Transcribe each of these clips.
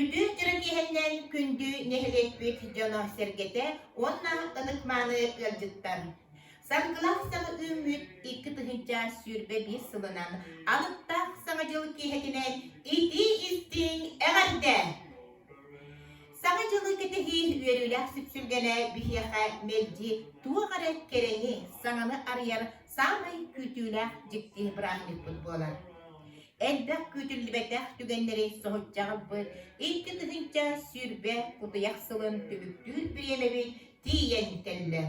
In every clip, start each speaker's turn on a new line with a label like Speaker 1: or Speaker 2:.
Speaker 1: Үтүө чэрэгиһэннэн күндү нэһилиэкпит дьоно-сэргэтэ уонна ытыкмааны ыалдьыттар. Саргылаах саҥа үүммүт икки тыһыынча сүүрбэ биир сылынан алыптаах саҥа дьыл киэһэтинэн итии-истиҥ эҕэрдэ! Саҥа дьылы кэтэһии үөрүүлээх сүпсүлгэнэ биһиэхэ мэлдьи туох эрэ кэрэни, саҥаны арыйар саамай күүтүүлээх дьикти бырааһынньыкпыт буолар. Элбэх күүтүллүбэтэх түгэннэри соһуччаҕырбыт икки тыһыынча сүүрбэ кутуйах сылын түбүктүүр бириэмэбит тиийэн кэллэ.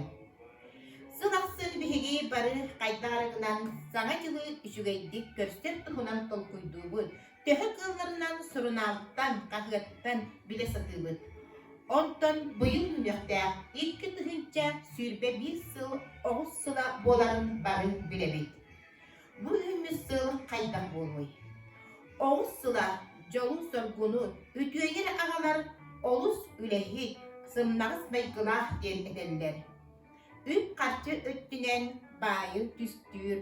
Speaker 1: Сыл ахсын биһиги бары хайдах арыгынан саҥа дьылы үчүгэйдик көрсөр туһунан толкуйдуубут, Төһө кыылларынан сурунаалтан, хаһыаттан билэ сатыыбыт. Онтон быйыл мүнүөхтээх икки тыһыынча сүүрбэ биир сыл оҕус сыла буоларын бары билэбит. Бу үһүммүт сыл хайдах буолуой? Оҕус сыла дьолу-соргуну үтүөйэр аҕалар олус үлэһит, сымнаҕас майгылаах диэн этэллэр. Үп-харчы өттүнэн баайы түстүүр,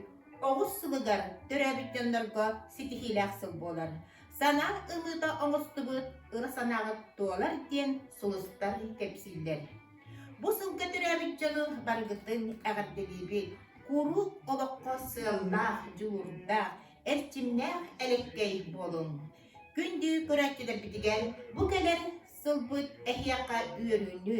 Speaker 1: оҕус сылыгар төрөөбүт дьоннорго ситиһиилээх сыл буолар. Сана ылыыта оҥостубут ыра санааҕыт туолар диэн сулустар кэпсииллэр. Бу сылга төрөөбүт дьону барыгытын эҕэрдэлиибит! Куруук олоххо сыаллаах, дьулуурдаах, эрчимнээх элэккэй буолуҥ! Күндү көрөөччүлэрбитигэр бу кэлэр сылбыт эһиэхэ үөрүүнү,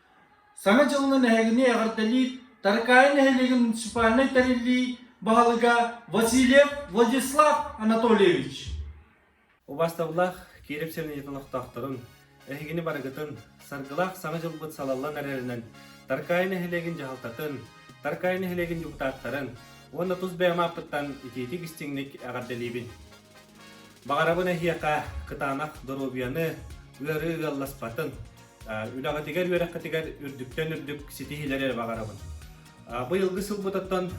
Speaker 1: Саҥа дьылынан эһигини эҕэрдэлиир Таркаайа нэһилиэгин муниципальнай тэриллии баһылыга Васильев Владислав Анатольевич Убастабыллаах Киирэп сиринэйи олохтоохторун, эһигини барыгытын, Саргылаах Саҥа дьылбыт салаллан эрэринэн Таркаайа нэһилиэгин дьаһалтатын, Таркаайа нэһилиэгин дьокутааттарын уонна тус бэйэм ааппыттан итиитик-истиҥник эҕэрдэлиибин! Баҕарабын эһиэхэ кытаанах доруобуйаны, ыарыы ыалласпатын, үлэҕитигэр, үөрэххитигэр үрдүктэн үрдүк ситиһиилэри эрэ баҕарабын. Быйылгы сыл бутаттан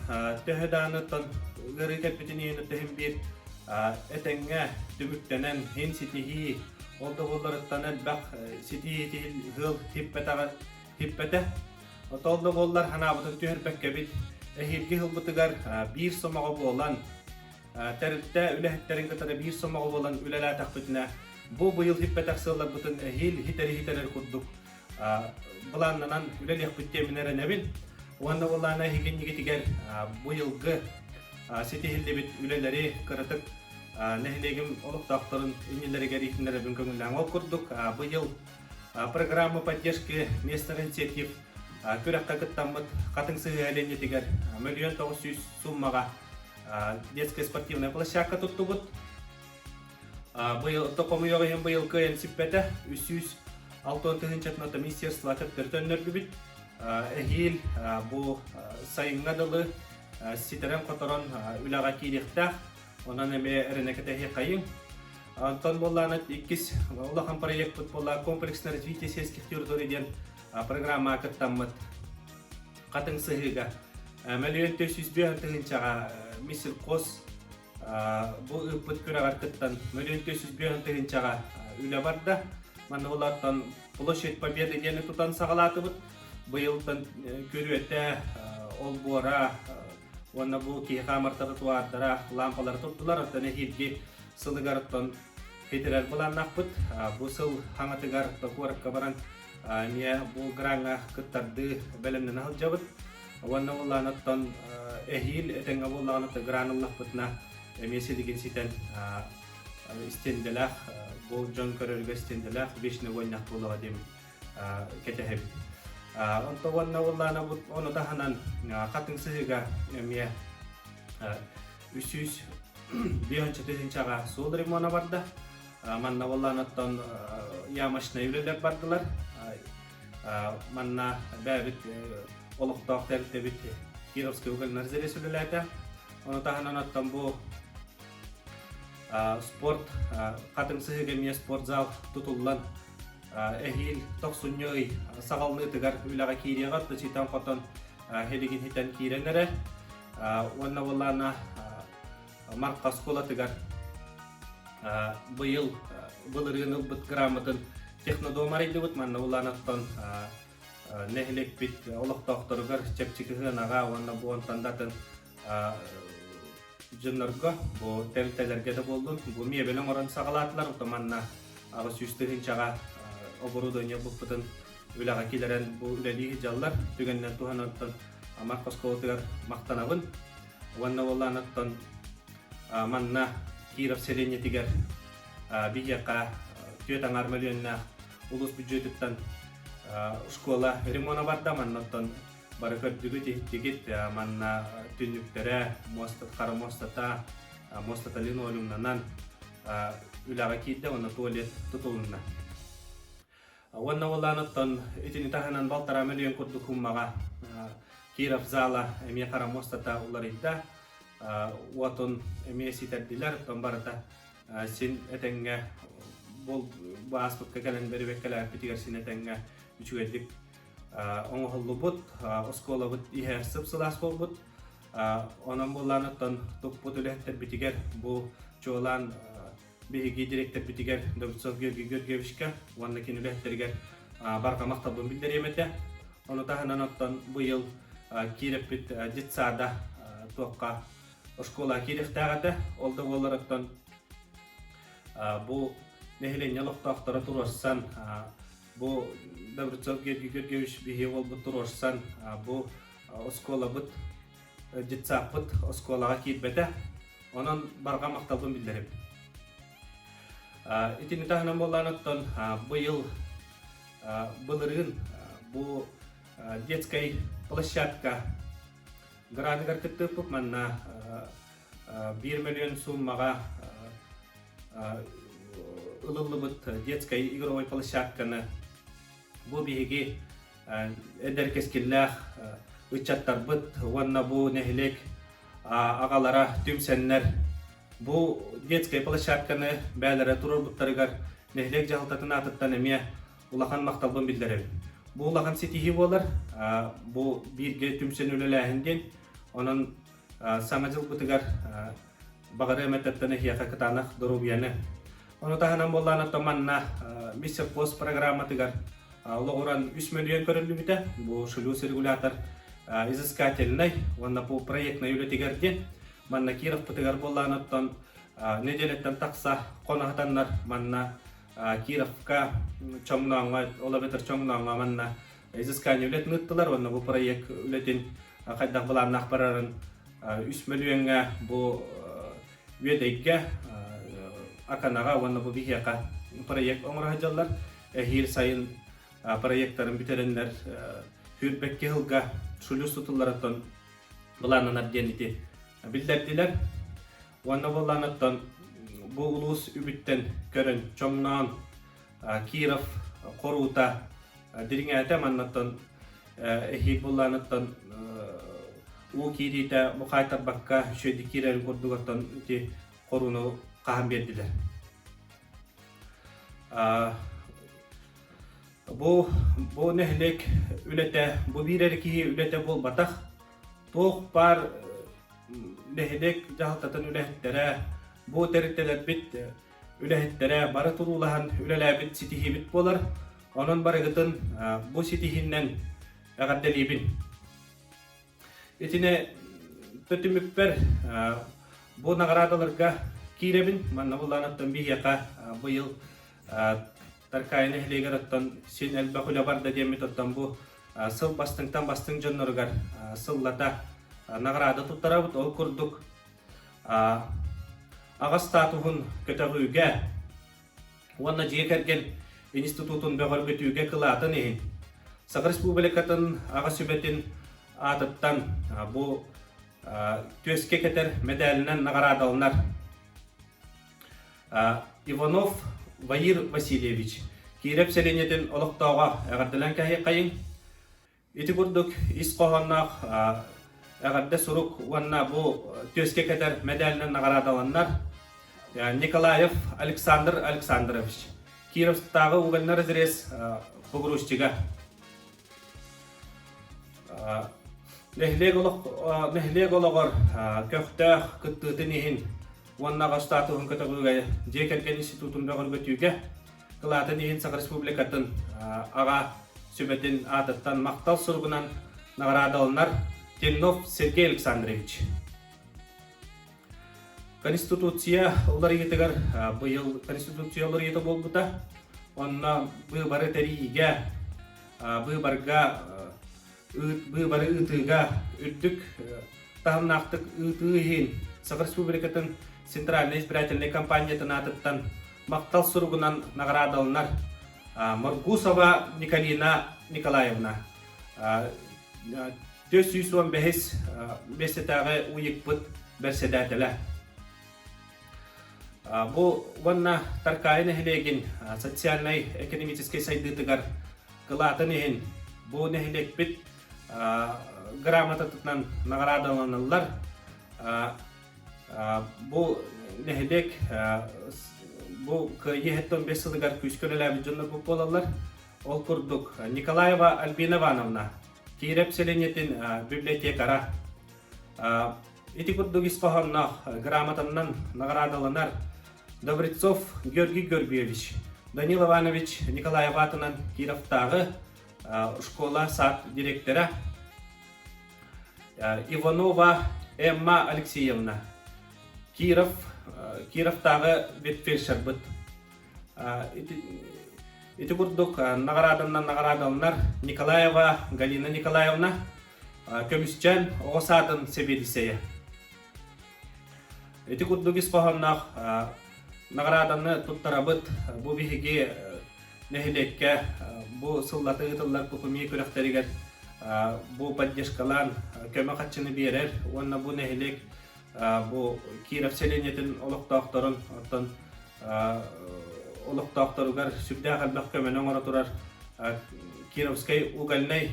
Speaker 1: төһө дааныттан ыарыы кэлбитин иһин төһүм биир этэҥҥэ түмүктэнэн иһин ситиһии, ол да буолларыттан элбэх ситиһиити ыал типпэтэх. Оттон ол да буоллар санаабытын түһэрбэккэбит, эһиилги сылбытыгар биир сомоҕо буолан, тэрилтэ үлэһиттэрин кытары биир сомоҕо буолан үлэлээтэхпитинэ бу быйыл ииппэтэх сыалларбытын эһиил иһитэр-иһитэрэр курдук былааннанан үлэлиэхпит диэмин эрэнэбин уонна ол аана иһигиннигитигэр бу йылгы ситиһиллибит үлэлэри кыратык нэһилиэгим олохтоохторун иннилэригэр иитиннэрэбин көҥүллээҥ ол курдук бу йыл программа поддержки местных инициатив күрэххэ кыттаммыт хатыҥ сыһыаһа лиэнньэтигэр мөлүйүөн тоҕус сүүс суммаҕа детская спортивная площадка туттубут. Быйыл хомуйуох иһин быйыл кыайан сиппэтэ. Үсүүс алтан тыһынчатната министерство кыттыртан нөргүбүт. Эһиил бу сайыҥҥа дылы ситэрэн хоторон үлэҕэ киириэхтээх. Онон эме ренекетехи кайың. Антон Болланов иккис улахан проектпыт була комплексно развитие сельских территорий диэн программа кыттаммыт. хатыҥ сыһыыга. Мөлүйүөнтө сүүс биэр тыһыынчаҕа Миссилкос бу ыыппыт күрэҕэр кыттан мөлүйүөнтө сүүс биэр тыһыынчаҕа үлэ барда. Манна олартан Площадь Победы диэни тутан саҕалаатыбыт. Быйылтан күрүөтэ, олбуора уонна бу киһи хаамартата туаардара лаампалары турдулар, оттон эһиилги сылыгар оттон федерал былааннаахпыт. Бу сыл хаҥатыгар до куоракка баран эмиэ бу граҥҥа кыттардыы бэлэмнэнэ сылдьабыт уонна буоллаан оттон эһиил этэҥҥэ буоллаҕына оттон гран ыллахпытына эмиэ силигин ситэн истиэндэлээх гол дьон көрөргө истиэндэлээх вечный войнах буолаҕа диэн кэтэһэбит онто уонна уллаана бут ону таһынан хатыҥ сыһыыга эмиэ үс сүүс бешенча тысячаҕа суол ремона барда манна боллаан оттон ямочнай үлэлэр бардылар манна бэбит олохтоох тэрилтэбит кировский угольнай резервист үлэлээтэ ону таһынан оттон бу спорт хатымсыһыыга эмиэ спортзал тутуллан эһиил тохсунньу ый саҕалныытыгар үлэҕэ киириэҕэр тычитан хотон хилигин хитэн киирэн эрэ уонна боллаана Марха оскуолатыгар быйыл былырыын ылбыт грамотын технодом арыйдыбыт. Манна Улаанаттан нэһилиэкпит олохтоохторугар чэпчэки сыанаҕа уонна бу онтон датын дьоннорго бу тэрилтэлэргэ да буоллун бу миэбэли оҥорон саҕалаатылар ото манна аҕыс сүүс тыһыынчаҕа оборудование булбутун үлэҕэ килэрэн бу үлэлии сылдьаллар түгэнинэн туһанан оттон Марх оскуолатыгар махтанабын уонна уоллааныттан манна Киров сэлиэнньэтигэр биһиэхэ түөрт аҥаар мөлүөннээх улуус бүддьүөтүттэн оскуола ремона барда маннаттан бары көрдүгүт иһиттигит манна түннүктэрэ хара муостата муостата линолеумнанан үлэҕэ киирдэ уонна туалет тутулунна Уонна уоллааныттан итини таһынан балтараа мөлүйүөн курдук хуммаҕа Киров зала эмиэ хара муостата уларыйда. Уотун эмиэ ситэрдилэр, оттон барыта син этэҥҥэ ааспыкка кэлэн бэрибэккэлээппитигэр син этэҥҥэ үчүгэйдик оҥоһуллубут, оскуолабыт иһэ сып-сылаас буолбут. Онон буоллааныттан туппут үлэһиттэрбитигэр бу чуолаан биһиги дириэктэрбитигэр Давыцов Георгий Георгиевичка уонна кини үлэһиттэригэр барҕа махталбын биллэриэм этэ. Ону таһынан оттон быйыл киирэппит детсада туохха оскуола киириэхтээх этэ. Ол да буоллар оттон бу нэһилиэнньэ олохтоохторо туруорсан бу Даврецов Георгий Георгиевич биһиги уолбут туруорсан бу оскуолабыт детсаппыт оскуолаҕа киирбэтэ, онон барҕа махталбын биллэрим. Итини таһынан буоллаан оттон быйыл былырыын бу детскай площадка граныгар кыттыппыт манна биир мөлүйүөн сууммаҕа ылыллыбыт детскай игровой площадканы Бу биһиги эдэр кэскиллээх ыччаттарбыт уонна бу нэһилиэк аҕалара түмсэннэр бу детскай площадканы бээлэрэ туруорбуттарыгар нэһилиэк дьаһалтатын аатыттан эмиэ улахан махталбын биллэрэбин. Бу улахан ситиһии буолар. Бу бииргэ түмсэн үлэлээһин диэн. Онон саҥа дьылбытыгар Баҕарыам этэттэн эһиэхэ кытаанах доруобуйаны. Ону таһынан буоллаан оттон манна Миссе Фос программатыгар олоҕуран 3 мөлүйүөн көрүллүбүтэ. Бу шлюз регулятор изыскательнай уонна по проектнай үлэтигэр диэн манна Кировпытыгар буоллаан оттон неделяттан тахса хонаһатаннар манна Кировка чоҥнооҥҥо олобетр чоҥнооҥҥо манна изыскание үлэтин ыыттылар уонна бу проект үлэтин хайдах былааннаах барарын үс мөлүйөҥҥө бу Үөдэйгэ, Аканаҕа уонна бу биһиэхэ проект оҥоро сылдьаллар. Эһиил сайын проектарын бүтэрэннэр Хүрбэкки сылга шулюс тутулларыттан былааннанар диэн ити биллэрдилэр. Уонна буолланыттан бу улуус үбүттэн көрөн, чоҥноон Киров хоруута дириҥээтэ маннаттан эһиит буллааныттан уу киириитэ бухаайтарбакка шведи киирэрин курдугаттан ити хорууну хаһан биэрдилэр. Бу бу нэһилиэк үлэтэ бу биир эрэ киһи үлэтэ буолбатах. Туох баар нэһилиэк дьаһалтатын үлэһиттэрэ бу тэрилтэлэрбит үлэһиттэрэ бары туруулаһан үлэлээбит ситиһиибит буолар. Онон барыгытын бу ситиһиннэн эҕэрдэлиибин. Итини түтүмүппэр бу наҕараадаларга киирэбин. Манна буллааныттан биһиэхэ быйыл Таркая нэһилиэгэр оттон син элбэх үлэ барда диэммит оттон бу сыл бастыҥтан бастыҥ дьонноругар сыллата наҕараада туттарабыт. Ол курдук аҕа статуһун көтөҕүүгэ уонна дьиэ кэргэн институтун бөҕөргөтүүгэ кылаатын иһин Саха Республикатын аҕа сүбэтин аатыттан бу түөскэ кэтэр мэдээлинэн наҕараадаланар Иванов Ваир Васильевич Киирэп сэлиэнньэтин олохтооҕо эҕэрдэлээн кэһэйиэххэйиҥ Ити курдук ис хоһоонноох эҕэрдэ сурук уонна бу түөскэ кэтэр мэдээлинэн наҕараадаланнар Николаев Александр Александрович, Кировтааҕы угольный разрез погрузчига, нэһилиэк, олох, нэһилиэк олоҕор көхтөөх кыттыытын иһин уонна аҕа статуһун көтөҕүүгэ дьиэ кэргэн институтун бөҕөргөтүүгэ Кылаатын иһин Саха Республикатын аҕа сүбэтин аатыттан махтал суругунан наҕараадаланар Теннов Сергей Александрович. Конституция уларыйытыгар быйыл Конституция уларыйыта буолбута. Онно быыбары тэриигэ, быыбарга бары ыытыыга үрдүк таһымнаахтык ыытыы иһин Саха Республикатын Центральнай избирательнай компаниятын аатыттан махтал суругунан наҕараадаланар Моргусова Николина Николаевна түөрт сүүс уон бэһис миэстэтээҕи уйукпут бэрсэдээтэлэ Бу уонна Таркаай нэһилиэгин социальнай-экономическай сайдыытыгар кылаатын иһин бу нэһилиэкпит грамотатынан наҕараадаланаллар. Бу нэһилиэк бу кыайыы хэттэ он бес сылыгар күүскэ үлэлээбит дьоннорбут буолаллар. Ол курдук Николаева Альбина Ивановна, Кииреп селениетин библиотекара, Ити курдук ис хоһоонноох грамотаннан наҕараадаланар Добрецов Георгий Горбиевич, Данил Иванович Николаев аатынан Кировтааҕы школа-сад директора Иванова Эмма Алексеевна, Киров, Кировтааҕы ветфельдшербыт. Ити курдук наҕарааданнан наҕараадаланар Николаева Галина Николаевна, Көмүсчэн оҕо саатын сэбиэдиссэйэ. Ити курдук ис хоһоонноох наҕарааданы туттарабыт. Бу биһиги нэһилиэккэ бу сыллата ыытыллар кухумье күрэхтэригэр бу поддержкалаан көмө хаччыны биэрэр уонна бу нэһилиэк бу Киров селениетин олохтоохторун, оттон олохтоохторугар сүрдээх элбэх көмөнү оҥоро турар Кировскай угольнай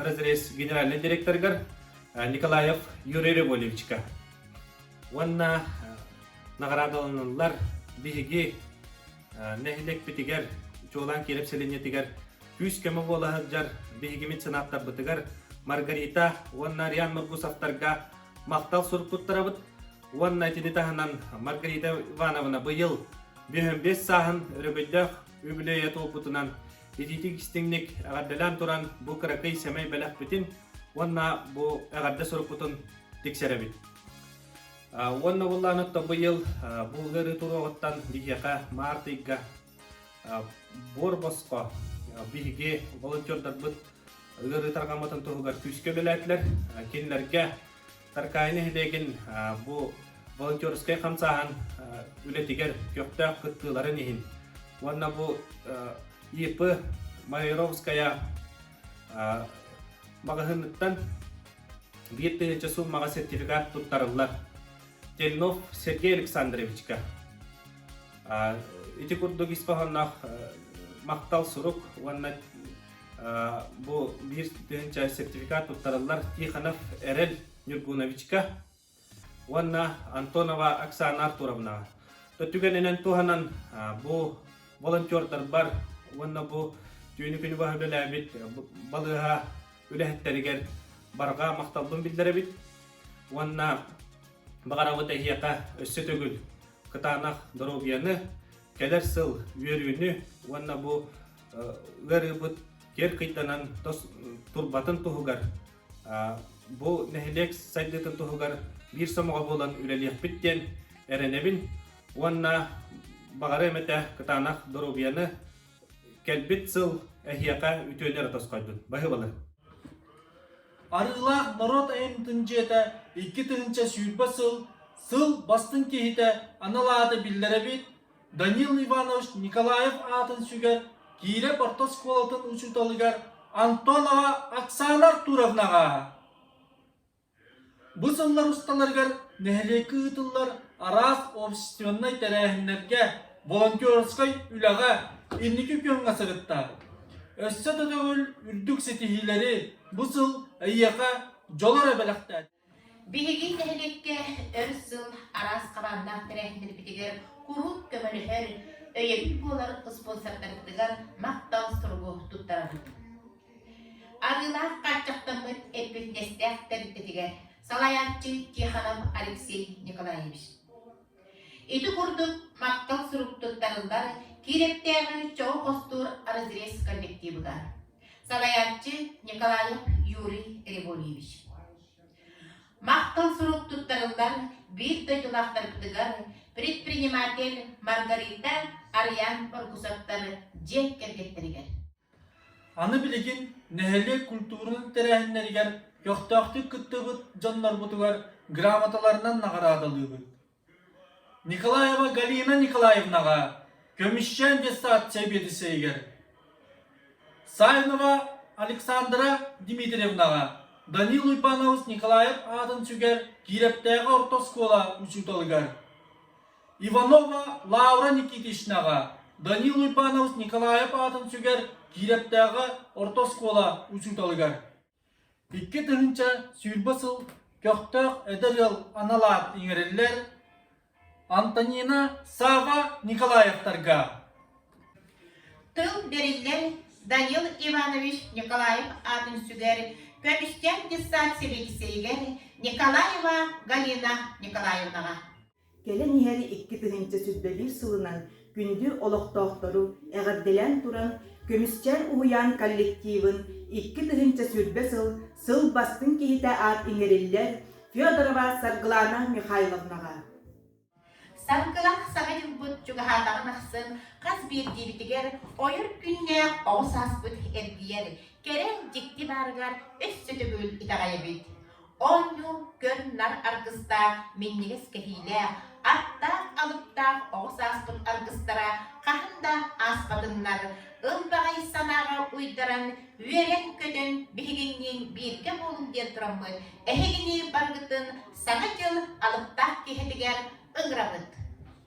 Speaker 1: разрез генеральнай директорыгар Николаев Юрий Рябовичка уонна наҕараадаланаллар биһиги нэһилиэкпитигэр чуолаан Киров селениетигэр күүс-көмө буола сылдьар биһиги меценаттарбытыгар Маргарита уонна Ариан Маргусовтарга махтал сурук туттарабыт уонна итини таһынан Маргарита Ивановна быйыл биһэн биэс сааһын өрөбөллөөх үбүлүөйэ туолбутунан итиитик-истиҥник эҕэрдэлээн туран бу кыракый сэмэй бэлэхпитин уонна бу эҕэрдэ сурукпутун тиксэрэбит уонна буллаан отто быйыл бу ыарыы туруоҕуттан биһиэхэ маарт ыйга буор босхо биһиги волонтердарбыт ыарыы тарҕаммытын туһугар күүскэ үлэлээтилэр. Кинилэргэ Таркаай нэһилиэгин бу волонтерскай хамсааһын үлэтигэр көхтөөх кыттыыларын иһин уонна бу ИП Майоровская маҕаһыыныттан биир тыһыынча суумаҕа сертификат туттарыллар. Тельнов Сергей Александровичка Ити курдук ис хоһоонноох махтал сурук уонна бу биир тыһыынча сертификат туттарыллар Тихонов Эрэл Ньургуновичка уонна Антонова Оксана Артуровнаҕа. То түгэнинэн туһанан бу волонтердарбар уонна бу түүнү күнү баһа үлэлээбит балыыһа үлэһиттэригэр барҕа махталбын биллэрэбит уонна баҕарабыт эһиэхэ өссө төгүл кытаанах доруобуйаны, кэлэр сыл үөрүүнү уонна бу ыарыыбыт киэр кыйданан турбатын туһугар бу нэһилиэк сайдыытын туһугар биир сомоҕо буолан үлэлиэхпит диэн эрэнэбин уонна баҕара эмэтэ кытаанах доруобуйаны кэлбит сыл эһиэхэ үтүөнү эрэ тосхойдун баһы балыр Арыылаах норуот айымньытын дьиэтэ икки тыһыынча сүүрбэ сыл сыл бастыҥ киһитэ анал ааты биллэрэбит Данил Иванович Николаев аатын сүгэр Киирэ орто оскуолатын учууталыгар Антон аҕа Оксана Артуровнаҕа Бу сыллар усталарыгар нэһилиэккэ ыытыллар араас общественнай тэрээһиннэргэ, волонтерскай үлэҕэ инники күөҥҥэ сырыттаабыт. Өссө да төгүл үрдүк ситиһиилэри бу сыл эйиэхэ дьоло эрэ бэлэхтээтэ. Биһиги нэһилиэккэ өр сыл араас хабааннаах тэрээһиннэрбитигэр куруук көмөлөһөр, өйөбүл буолар спонсордарбытыгар махтал суругу туттарабыт. Арыылаах хааччахтаммыт эппиэтинэстээх тэрилтэтигэр салайааччы Тихонов Алексей Николаевич. Ити курдук махтал сурук туттарыллар Киирэптээҕи чоҕу хостуур разрез коллективыга салайааччы Николаев Юрий Григорьевич. Махтал сурук туттарыллар биир дойдулаахтарбытыгар предприниматель Маргарита Арыйаан Оргусовтар дьиэ кэргэттэригэр Аны билигин нэһилиэк культуратын тэрээһиннэригэр көхтөөхтүк кыттыбыт дьоннорбутугар грамоталарынан наҕараадалыыбыт. Николаева Галина Николаевнаҕа, көмүсчээн диссоциация биэдиссэйигэр, Саинова Александра Дмитриевнаҕа, Данил Уйбанабыс Николаев аатын сүгэр Киирэптээҕи орто оскуола учууталыгар, Иванова Лаура Никитичнаҕа, Данил Уйбаанабыс Николаев аатын сүгэр Киирэптээҕи орто оскуола учууталыгар. Икки тыһыынча сүүрбэ сыл көхтөөх эдэр ыал анал аат иҥэриллэр Антонина Сава Николаевтарга, Тыл бэриллэр Данил Иванович Николаев аатын сүгэр Көмүскээн детсад сэбиэдиссэйигэр Николаева Галина Николаевнаҕа, Кэлэн иһэр икки тыһыынча сүүрбэлиир сылынан күндү олохтоохтору эҕэрдэлээн туран Көмүсчээр уһуйаан коллективын икки тыһыынча сүүрбэ сыл сыл бастыҥ киһитэ аат иҥэриллэр Федорова Саргылана Михайловнаҕа Саргылаах саҥа дьылбыт чугаһаатаҕын ахсын хас биирдиибитигэр ойор күннээх оҕус ааспыт эргийэр, кэрэ дьикти баарыгар өссө төгүл итэҕэйэбит. Оонньуу көн нар аргыстаах, минньигэс кэһиилээх, аттаах-алыптаах оҕо сааспыт аргыстара хаһан да ааспатыннар, ылбаҕай санааҕа уйдаран, үөрэн-көтөн биһигинниин бииргэ буолуҥ диэн тураммыт эһигини барыгытын Саҥа дьыл алыптаах киэһэтигэр ыҥырабыт!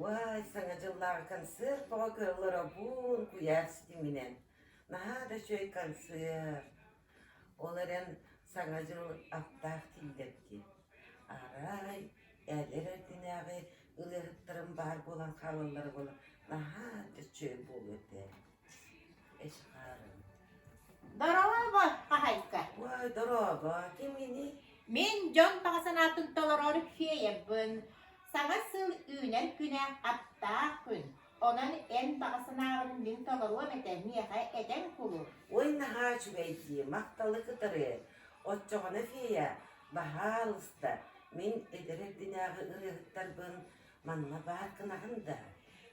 Speaker 1: Уой, Саҥа дьыллааҕы концерт бөҕө кыаллар обуун куйаар ситиминэн, наһаа да үчүгэй концерт. Ол эрэн Саҥа дьыл аптаах тиллэрдиэн. Арай эдэр эрдинээҕи ырыаһыттарым баар буолан хаалаллара буолан наһаа да үчүгэй буолуо этэ Дорообо, хаһайка. Ой, дорообо, ким ини? Мин дьон баҕа санаатын толорор феябын. Саҥа сыл үүнэр күнэ аптаах күн. Онон эн баҕа санааҕын мин толоруом этэ миэхэ эдэр кулу. Ой, наһаа үчүгэй дии, махталы кытары. Оччоҕуна, фея, баһаалыста, мин эдэр эрдинээҕи ырыаһыттарбын манна баар гынаҕын да?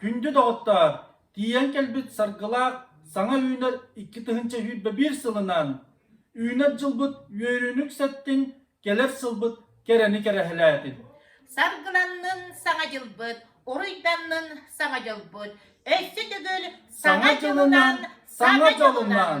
Speaker 1: Күндү доҕоттоор, тиийэн кэлбит Саргылаах саҥа үүнэр икки тыһыынча сүүрбэ биир сылынан Үүнэр дьылбыт үөрүүнүк сэттин Кэлэр сылбыт кэрэни кэрэһэлээтин! Саргыланнын саҥа дьылбыт, уруйданнын саҥа дьылбыт, өссө төгүл саҥа дьылынан, саҥа дьылынан!